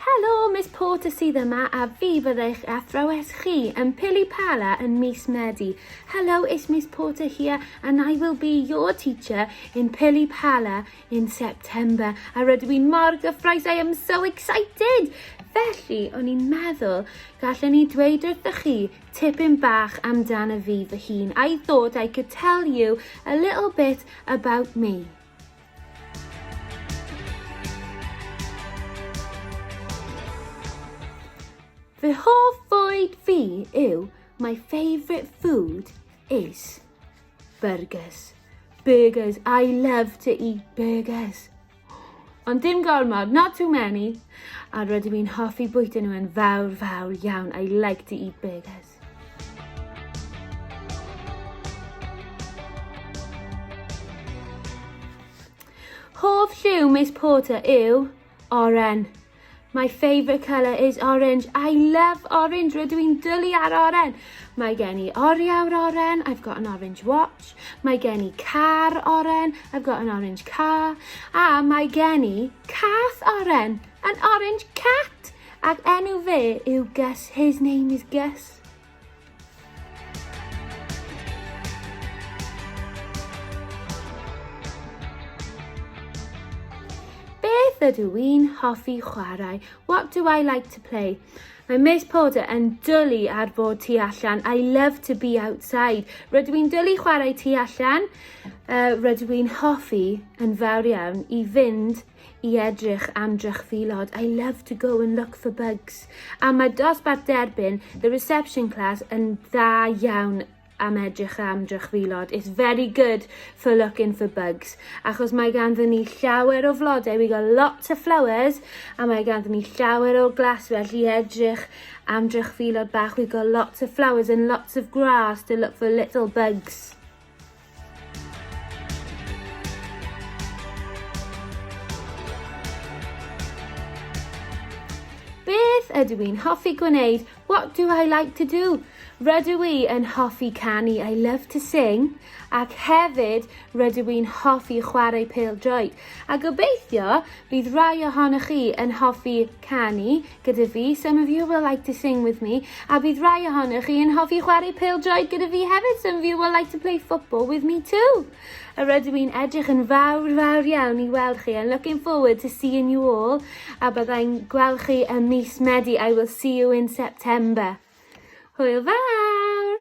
Helo, Miss Porter sydd yma a fi fyddai'ch athrawes chi yn Pili Pala yn mis Medi. Hello, it's Miss Porter here and I will be your teacher in Pili Pala in September. A rydw i'n mor gyffroes, I am so excited! Felly, o'n i'n meddwl, gallen ni dweud wrthych chi tipyn bach amdano fi fy hun. I thought I could tell you a little bit about me. Fy hoff fwyd fi yw my favourite food is burgers. Burgers, I love to eat burgers. Ond dim gormod, not too many. A rydw i'n hoffi bwyta nhw yn fawr, fawr iawn. I like to eat burgers. Hoff lliw Miss Porter yw oren. My favourite colour is orange. I love orange. Rydw i'n dylu ar oren. Mae gen i oriawr oren. I've got an orange watch. Mae gen i car oren. I've got an orange car. A mae gen i cath oren. An orange cat. Ac enw fe yw Gus, his name is Gus. Beth ydw i'n hoffi chwarae? What do I like to play? Mae Miss Porter yn dwlu ar fod tu allan. I love to be outside. Rydw i'n dwlu chwarae tu allan. Uh, rydw i'n hoffi yn fawr iawn i fynd i edrych am drychfilod, I love to go and look for bugs. A mae dosbarth derbyn, the reception class, yn dda iawn am edrych am drychfilod. It's very good for looking for bugs. Achos mae ganddyn ni llawer o flodau, we got lots of flowers, a mae ganddyn ni llawer o glas felly edrych am drychfilod bach. We got lots of flowers and lots of grass to look for little bugs. Beth ydw i'n hoffi gwneud? What do I like to do? Rydw i yn hoffi canu, I love to sing, ac hefyd rydw i'n hoffi chwarae pêl-droed. A gobeithio bydd rhai ohonoch chi yn hoffi canu gyda fi, some of you will like to sing with me, a bydd rhai ohonoch chi yn hoffi chwarae pêl-droed gyda fi hefyd, some of you will like to play football with me too. A rydw i'n edrych yn fawr, fawr iawn i weld chi, and looking forward to seeing you all, a byddai'n gweld chi ym mis Medi, I will see you in September. Hwyl fawr!